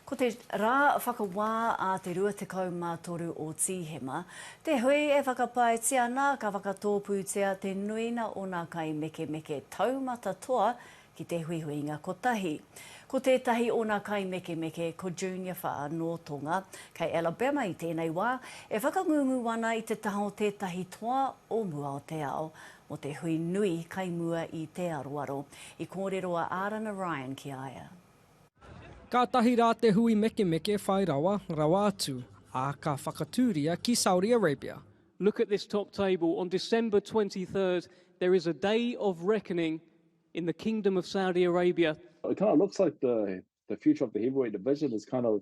Ko te rā whakawā a te 23 o Tīhema, te hui e whakapaetia ana ka whakatōpūtia te nuinga o ngā kaimekemeke taumata toa ki te huihuinga kotahi. Ko tētahi o ngā kaimekemeke ko Junior Wha nō Tonga, kei Alabama i tēnei wā, e whakangungu ana i te taha o tētahi toa o mua o te ao mō te hui nui kai mua i Te Aroaro, i kōrero a Ārana Ryan ki a ia. Kātahi rā te hui mekemeke whai rawa, rawa atu, ā, ka whakatūria ki Saudi Arabia. Look at this top table, on December 23rd there is a day of reckoning in the kingdom of Saudi Arabia. It kind of looks like the the future of the heavyweight division is kind of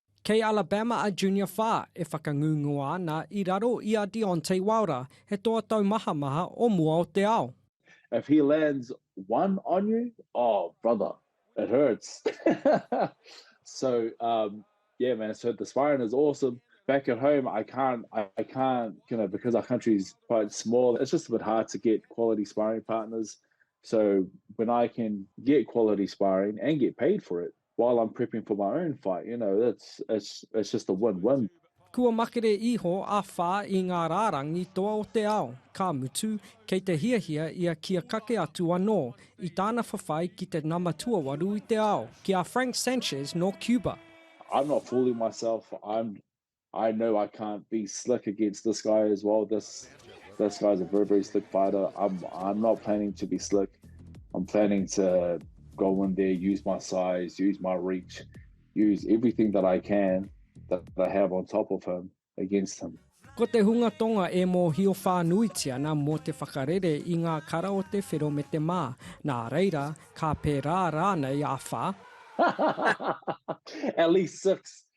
Kei Alabama a Junior Wha e whakangunguā ana i raro i a Deontay Wilder, he toa taumahamaha o mua o te ao. If he lands one on you, oh brother, it hurts. so um, yeah man, so the sparring is awesome. Back at home, I can't, I can't, you know, because our country's quite small, it's just a bit hard to get quality sparring partners. So when I can get quality sparring and get paid for it, While I'm prepping for my own fight, you know, it's, it's, it's just a win win. Kua makere iho a Wha i ngā rārangi toa o te ao, ka mutu, kei te hiahia ia kia kake atu anō i tāna whawhai ki te nama tuawaru i te ao, ki a Frank Sanchez nō Cuba. I'm not fooling myself, I'm I know I can't be slick against this guy as well. This this guy's a very very slick fighter. I'm I'm not planning to be slick. I'm planning to go in there, use my size, use my reach, use everything that I can that I have on top of him against him. Ko te hunga tonga e mōhio whānuiti ana mō te whakarere i ngā kara o te whero me te mā. Nā reira, ka pērā rānei a whā? At least six.